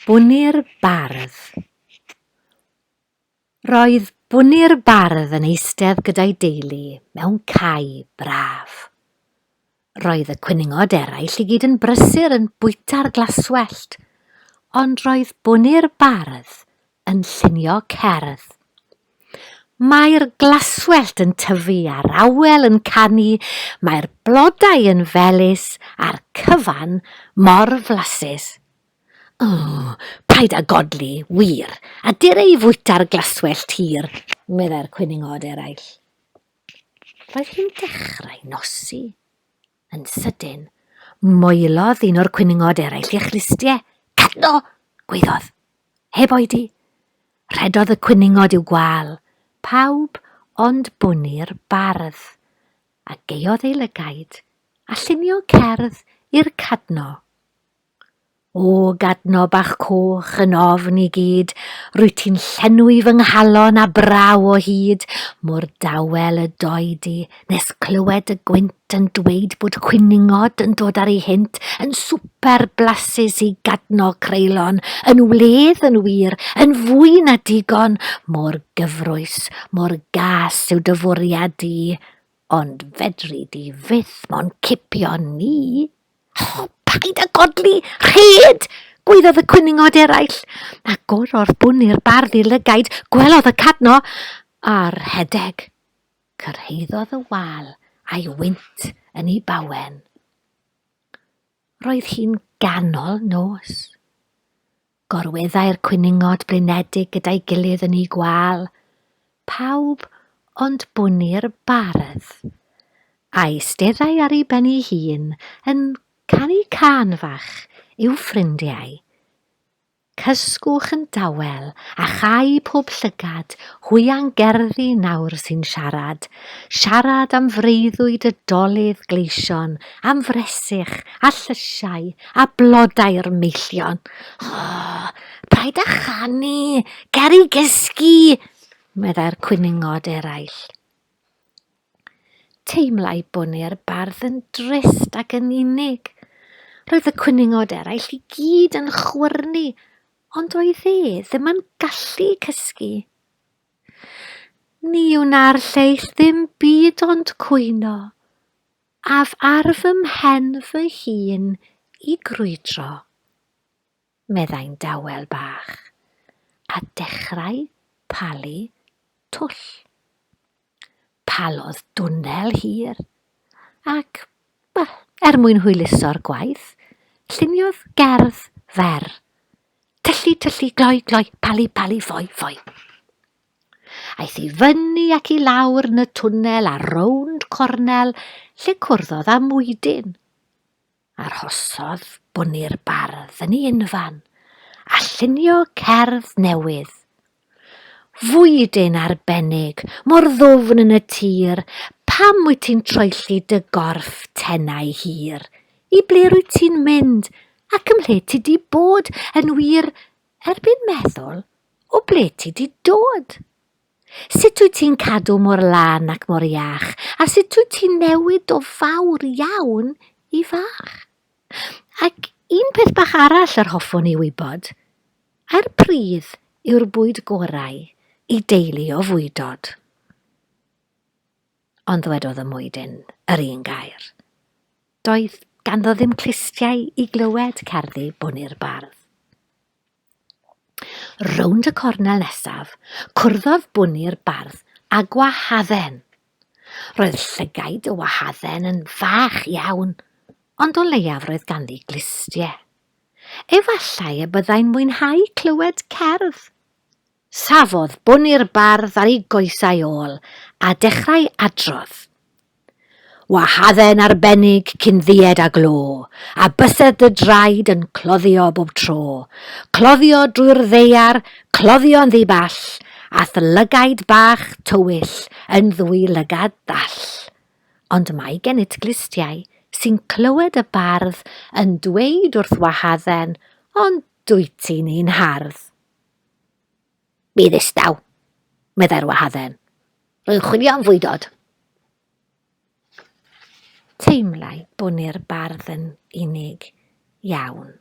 Bwni'r Bardd Roedd Bwni'r Bardd yn eistedd gyda'i deulu mewn cae braf. Roedd y cwningod eraill i gyd yn brysur yn bwyta'r glaswellt, ond roedd Bwni'r Bardd yn llunio cerdd. Mae'r glaswellt yn tyfu a'r awel yn canu, mae'r blodau yn felys a'r cyfan mor flasus. O, paid â godli, wir, a dir ei fwyta'r glaswellt hir, meddai'r cwningod eraill. Roedd hi'n dechrau nosi. Yn sydyn, moelodd un o'r cwningod eraill ei chlustiau. Cadno! gwaeddodd. Heb oedi. Rhedodd y cwningod i'w gwal. Pawb ond Bwni'r bardd. A gaeodd ei lygaid, a llunio cerdd i'r cadno. O, gadno bach coch yn ofn i gyd, Rwyt ti'n llenwi fy nghalon â braw o hyd, Mor dawel y doi di, nes clywed y gwynt Yn dweud bod cwningod yn dod ar ei hynt, Yn swper blasus i gadno creulon, Yn wledd yn wir, yn fwy na digon, Mor gyfrwys, mor gas yw dy fwriad di, Ond fedri di fyth mo'n cipio ni. O, paid â godli! Rhed! gwaeddodd y cwningod eraill. A gorodd bwn i'r bardd i lygaid, gwelodd y cadno, a rhedeg. Cyrhaeddodd y wal a'i wynt yn ei bawen. Roedd hi'n ganol nos. Gorweddai'r cwningod blinedig gyda'i gilydd yn eu gwâl. Pawb ond Bwni'r bardd. A'i steddai ar ei ben ei hun yn canu cân fach i'w ffrindiau. Cysgwch yn dawel a chau pob llygad hwyang gerddi nawr sy'n siarad, siarad am freuddwyd y dolydd gleision, am fresych a llysiau a blodau'r meillion. Oh, paid â chanu, ger i gysgu, meddai'r cwyningod eraill. Teimlai Bwni'r bardd yn drist ac yn unig. Roedd y cwyningod eraill i gyd yn chwyrnu, ond oedd e ddim yn gallu cysgu. Ni wna'r lleill ddim byd ond cwyno, Af ar fy mhen fy hun i grwydro, meddai'n dawel bach, a dechrau palu twll. Palodd dwnnel hir, ac, wel, er mwyn hwyluso'r gwaith, lluniodd gerdd fer. Tyllu, tyllu, gloi, gloi, palu, palu, ffoi, ffoi. Aeth i fyny ac i lawr yn y twnnel a rownd cornel lle cwrddodd â mwydyn. Arhosodd bwni'r bardd yn ei unfan a llunio cerdd newydd. Fwydyn arbennig, mor ddwfn yn y tir, pam wyt ti'n troelli dy gorff tenau hir? I ble rwyt ti'n mynd ac ymhle ti di bod yn wir erbyn meddwl O ble ti di dod? Sut wyt ti'n cadw mor lan ac mor iach? A sut wyt ti'n newid o fawr iawn i fach? Ac un peth bach arall yr hoffwn i wybod. A'r pridd yw'r bwyd gorau i deulu o fwydod? Ond ddwedodd y mwydyn yr un gair. Doedd ganddo ddim clustiau i glywed cerddi bwni'r bardd. Rownd y cornel nesaf, cwrddodd bwni'r bardd a gwahadden. Roedd llygaid y wahadden yn fach iawn, ond o leiaf roedd ganddi glustie. Efallai y byddai'n mwynhau clywed cerdd. Safodd bun i'r bardd ar ei goesau ôl, a dechrau adrodd. Wahadden arbennig cyn ddied a glo, a bysedd dy draed yn cloddio bob tro. Cloddio drwy'r ddaear, cloddio'n ddi-ball, a'th lygaid bach tywyll yn ddwy lygad ddall. Ond mae gennyt glustiau sy'n clywed y bardd yn dweud wrth Wahadden, ond dwyt ti'n un hardd. Mi ddistaw, meddai'r wahadden. Rwy'n chwilio am fwydod. Teimlai bwni'r bardd yn unig iawn.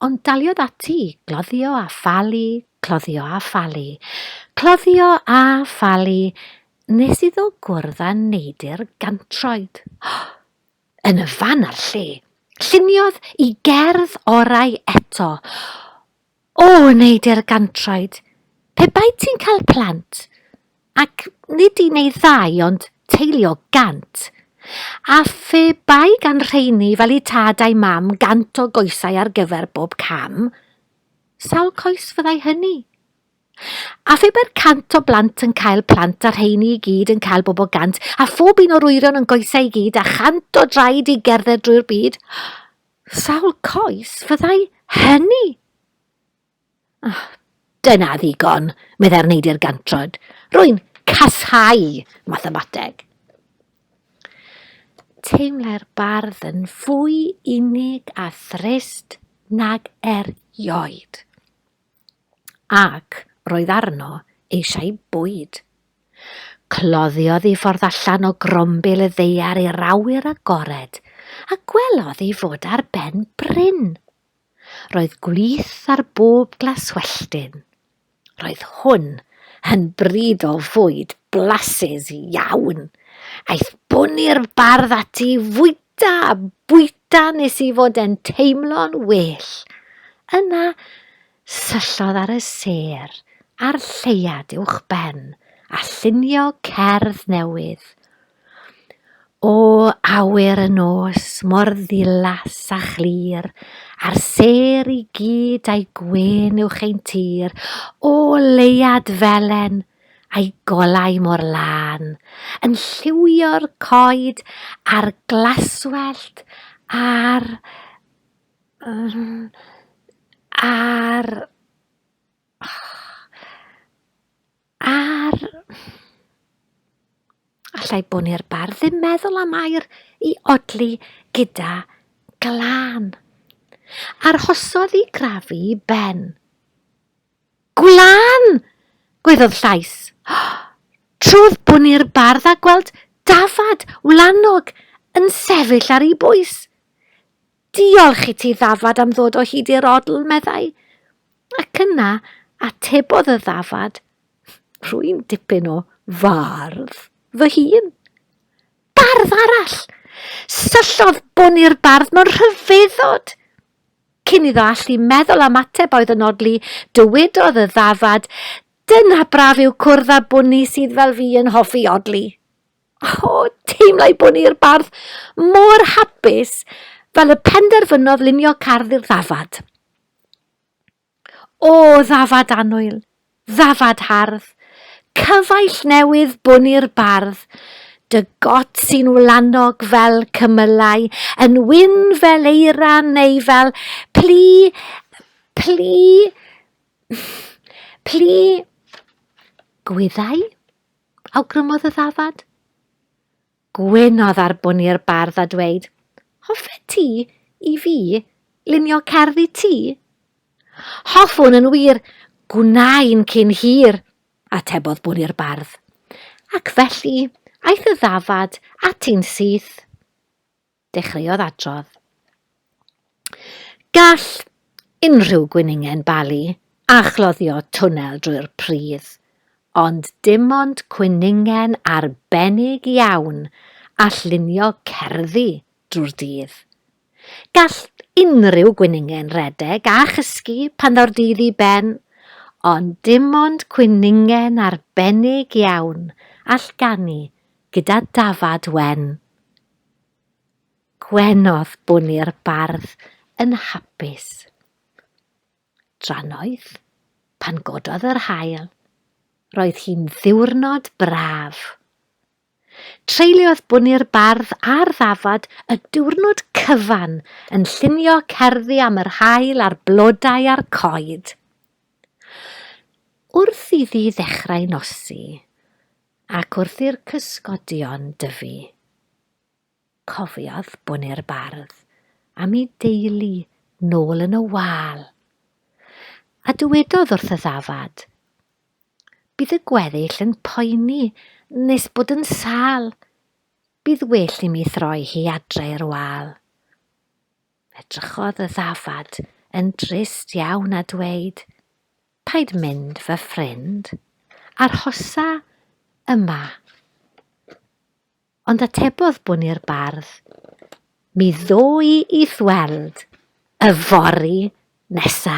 Ond daliodd ati i gloddio a phalu, cloddio a phalu, cloddio a phalu nes iddo gwrdd â neidr gantroed. yn y fan a'r lle. Lluniodd i gerdd orau eto. O, yn ei dergantraid, pe bai ti'n cael plant, ac nid un neu ddau, ond teulu o gant. A phe bai gan rheini fel i tad a'i mam gant o goesau ar gyfer bob cam, sawl coes fyddai hynny? A phe mae'r cant o blant yn cael plant a rheini i gyd yn cael bobl gant a phob un o'r wyron yn goesau i gyd a chant o draed i gerdded drwy'r byd, sawl coes fyddai hynny? Oh, dyna ddigon, meddai'r neidr gantrod. Rwy'n casau mathemateg. Teimlai'r bardd yn fwy unig a thrist nag erioed. ac roedd arno eisiau bwyd. Cloddiodd i ffordd allan o grombil y ddeiar i'r awyr agored, a gwelodd ei fod ar ben bryn. Roedd gwlith ar bob glaswelltyn. Roedd hwn yn bryd o fwyd blasus iawn. Aeth bwni'r bardd ati i fwyta Da, bwyta nes i fod e'n teimlo'n well. Yna, syllodd ar y sêr a'r lleuad uwch ben a llunio cerdd newydd. O awyr y nos mor ddilas a chlir, a'r sêr i gyd a'i gwên uwch ein tir, o leuad felen, a'i golau mor lân yn lliwio'r coed a'r glaswellt a'r... a'r... a'r... Alla i bod i'r bardd ddim meddwl am air i odli gyda glân. Arhosodd i grafu ben. Gwlan! gwaeddodd llais. Trodd Bwni'r Bardd a gweld dafad wlanog yn sefyll ar ei bwys. Diolch i ti, ddafad, am ddod o hyd i'r odl, meddai. Ac yna atebodd y ddafad, Rwy'n dipyn o fardd fy hun. Bardd arall! Syllodd Bwni'r Bardd mewn rhyfeddod. Cyn iddo allu meddwl am ateb oedd yn odli, dywedodd y ddafad, Dyna braf yw cwrdd â bwni sydd fel fi yn hoffi odli. O, teimlai bwni'r bardd mor hapus fel y penderfynodd lunio cardd i'r ddafad. O, ddafad annwyl! Ddafad hardd, cyfaill newydd bwn i'r bardd, Dy got sy'n wlanog fel cymylau, Yn wyn fel eira neu fel plu, plu, plu gwyddau? awgrymodd y ddafad. Gwynodd ar bwn i'r bardd a dweud, Hoffet ti i fi lunio cerdd i ti? Hoffwn yn wir, gwna i'n cyn hir, atebodd bwn i'r bardd. Ac felly aeth y ddafad ati'n syth. Dechreuodd adrodd. Gall unrhyw gwningen balu a chloddio twnnel drwy'r pridd, ond dim ond cwningen arbennig iawn all lunio cerddi drwy'r dydd. Gall unrhyw gwningen redeg a chysgu pan ddaw'r dydd i ben, ond dim ond cwningen arbennig iawn all ganu gyda dafad wen. Gwenodd bwni'r bardd yn hapus. Drannoeth, pan gododd yr haul, roedd hi'n ddiwrnod braf. Treuliodd bwni'r bardd ar ddafad y diwrnod cyfan yn llunio cerddi am yr haul a'r blodau a'r coed. Wrth iddi ddechrau nosi, Ac wrth i'r cysgodion dyfu, cofiodd Bwne'r Bardd am ei deulu nôl yn y wal, a dywedodd wrth y ddafad, Bydd y gweddill yn poeni nes bod yn sâl, bydd well i mi throi hi adre i'r wal. Edrychodd y ddafad yn drist iawn a dweud, Paid mynd fy ffrind, arhosa yma. Ond atebodd Bwni'r Bardd, Mi ddoi i'th weld y fory nesa.